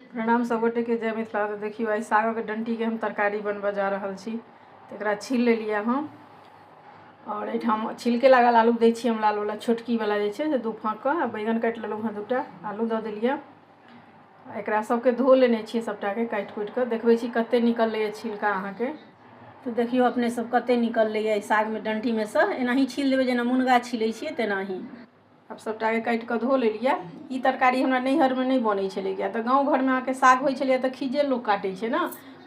प्रणाम सब गोटे के जय मिथिला तो देखियो आई साग के डंटी के हम तरकारी बनबा जा रहल छी तो एक छील ले लिया हम और एठाम छिलके लागल आलू दे छी हम लाल वाला छोटकी वाला जे छे दू फाँक आ बैगन काट लेलहुँ हँ दूटा आलू द दिलिया एक सबके धो लेने छी सबटा के काट कुट के देखबे छी कते निकल ले छिलका अहाँ के तो देखियो अपने सब कते निकल ले साग में डंटी में से एनाही छील देवे जेना मुनगा छिले छी तेनाही आब सभटाके काटि कऽ धो लेलियै ई तरकारी हमरा नैहरमे नहि बनै छलै किएक तऽ गाँव घरमे अहाँके साग होइ छलैए तऽ खीज्जे लोक काटै छै ने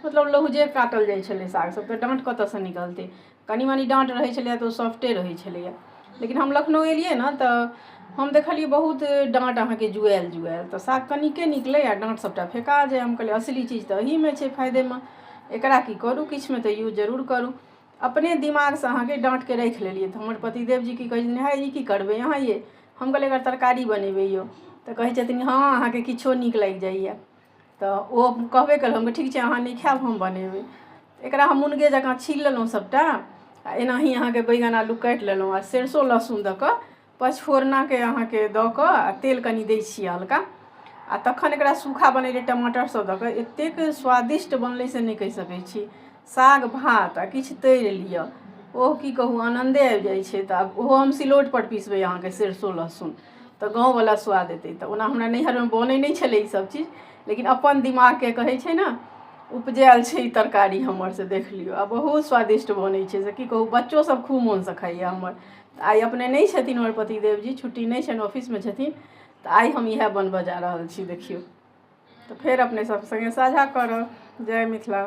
मतलब लहुजे काटल जाइ छलै साग सभ तऽ डाँट कतयसँ निकलतै कनि मनि डाँट रहै छलैए तऽ ओ सॉफ्टे रहै छलैए लेकिन हम लखनउ एलियै ने तऽ हम देखलियै बहुत डाँट अहाँके जुआयल जुआयल तऽ साग कनिके निकलै आ डाँट सभटा फेका जाय हम कहलियै असली चीज तऽ एहीमे छै फायदेमे एकरा की करू किछुमे तऽ यूज जरूर करू अपने दिमागसँ अहाँके डाँटके राखि लेलियै तऽ हमर पतिदेव जी की कहै छथिन हँ ई की करबै अहाँ ये हम कहलियै एकर तरकारी बनेबै यौ तऽ कहै छथिन हँ अहाँके किछो नीक लागि जाइए तऽ ओ कहबे कयलहुँ हम ठीक छै अहाँ नहि खायब हम बनेबै एकरा हम मुनगे जँका छील लेलहुँ सभटा आ एनाही अहाँके बैगन आलू काटि लेलहुँ आ सरिसो लहसुन दऽ कऽ पचफोरनाके अहाँके दऽ कऽ आ तेल कनि दै छियै हल्का आ तखन एकरा सूखा बनेलियै टमाटर सभ दऽ कऽ एतेक स्वादिष्ट बनलै से नहि कहि सकै छी साग भात आ किछु तरि लिअ ओह की कहू आनन्दे आबि जाइ छै तऽ आब ओहो हम सिलौट पर पिसबै अहाँके सरिसो लहसुन तऽ गाँव बला स्वाद एतै तऽ ओना हमरा नैहरमे बनै नहि छलै ई सभ चीज लेकिन अपन दिमागके कहै छै ने उपजायल छै ई तरकारी हमर से देख लियौ आ बहुत स्वादिष्ट बनै छै से की कहू बच्चो सभ खूब मोनसँ खाइया हमर तऽ आइ अपने नहि छथिन हमर पतिदेव जी छुट्टी नहि छनि ऑफिसमे छथिन तऽ आइ हम इएह बनबय जा रहल छी देखियौ तऽ फेर अपने सभ सङ्गे साझा करब जय मिथिला